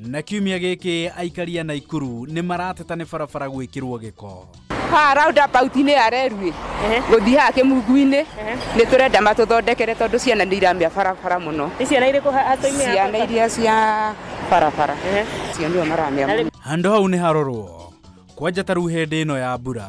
na kiumia gĩkĩ aikaria na ikuru nĩ marateta nĩ barabara gwĩkĩrwo gĩko haha roundabout-inĩ ya rerwĩ gũthiĩ haha kĩmungu-inĩ nĩ tũrenda matũthondekere tondũ ciana nĩ iramĩa barabara mũno nĩ ciana irĩkũ hatũ-inĩ ya ciana iria cia barabara cio nĩo maramĩa mũno handũ hau nĩ harorwo kwanja ta rĩu hĩndĩ ĩno ya mbura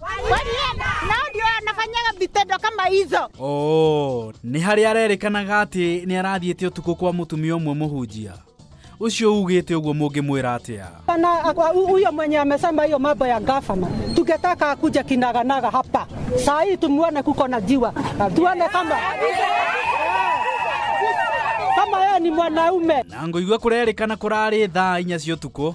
Walienda. Nao ndio wanafanyaga vitendo kama hizo. Oh, nĩ harĩa arerĩkanaga atĩ nĩ arathiĩte ũtukũ kwa mũtumia ũmwe mũhunjia ũcio ugĩte ũguo mũngĩmwĩra atĩa Pana huyo mwenye amesema hiyo mambo ya gavana, tungetaka akuja kinaganaga hapa saa hii, tumuone kuko na jiwa, tuone kama kama yeye ni mwanaume. na ngũigua kũrerĩkana kũrarĩ thaa inya cia ũtukũ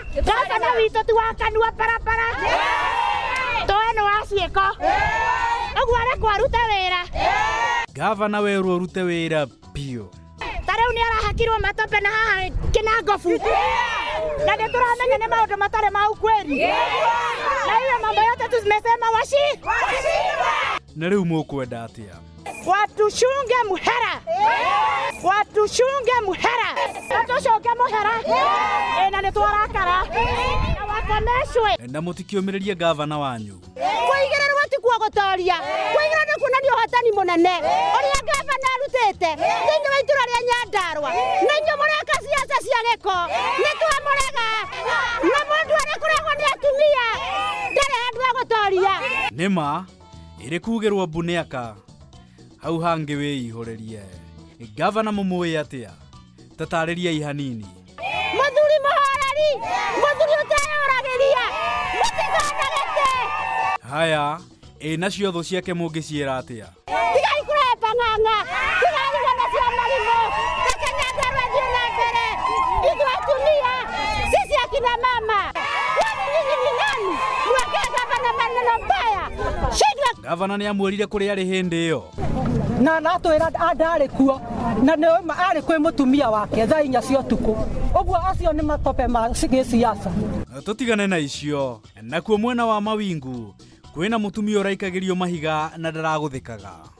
Gavana witũ ti wa kanua barabara towe nĩ wa ciĩko ũguo arekwo arute wĩra Gavana werwo ũrute wĩra biũ. ta rĩu nĩ arahakirwo matope na haha kĩnangobu na nĩ tũramenya nĩ maũndũ matarĩ ma ukweli na hiyo mambo yote tumesema washi Na rĩu mũkwenda atĩa? Watushunge muhera. Watushunge muhera. Watushunge muhera. Eh, na nitwarakara. Na wakomeshwe. na mũtikiũmĩrĩrie ngavana wanyu Kuigĩrĩrwo ti kuo gũtoria. Kuigĩrĩrwo nĩ kuonania ũhotani mũnene. Ũrĩa ngavana arutĩte thĩinĩ wa itũra rĩa Nyandarua. Na inyuĩ mũreka ciaca cia gĩko. Nĩ twamũrega. Na mũndũ arĩ kũregwo nĩ atumia. Ndarĩ handũ ha gũtoria. nĩ ma ĩrĩ kugĩrwo mbu nĩ aka hau hangĩ wĩihũrĩrie gavana mũmũĩ atĩa tatarĩriai hanini Mũthuri mũhoreri, mũthuri ũteyũragĩria, mũtikanagĩte. haya ĩ nacio thũ ciake mũngĩciĩra atĩa Tigai kũrehe pang'ang'a, tigai gũthana cia marimũ, reke nyandarũa thiĩ na mbere. Ithuĩ atumia Sisi akina mama, kwani nyinyi ni nani mwekee gavana maneno mbaya? Shindwa Gavana nĩ amwĩrire kũrĩa arĩ hĩndĩ ĩyo. na aratwira ndarä kuo na nä ma arä kwä må tumia wake thaa inya cia å tukå å guo acio nä matope ma gä ciaca Tũtigane na icio. Nakuo mwena wa Mawingu, kwĩna mũtumia ũraikagĩrio mahiga na ndaragũthĩkaga.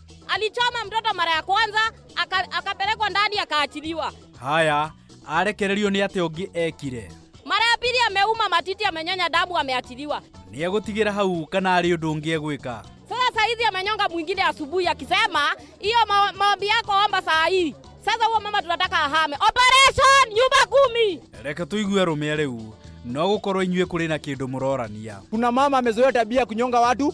Alichoma mtoto mara ya kwanza aka- akapelekwa ndani akaachiliwa. haya arekererio nĩ atĩ ũngĩ ekire Mara ya pili ameuma matiti, amenyonya damu, ameachiliwa. nĩ egũtigĩra hau kana arĩ ũndũ ũngĩ egwĩka Sasa saa hizi amenyonga mwingine asubuhi akisema hiyo ma- maombi yako omba saa hii. Sasa huo mama tunataka ahame. Operation nyumba kumi. reke tũigue rũme rĩu no gũkorwo inyuĩ kũrĩ na kĩndũ mũrorania Kuna mama amezoea tabia ya kunyonga watu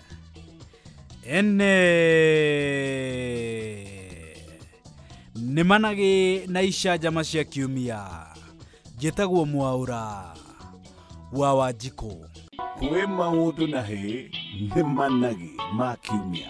ene nĩ managĩ na icanjama cia kiumia njĩtagwo mwaũra wa wanjikũ kwĩ maũndũ na hĩ nĩ managĩ ma kiumia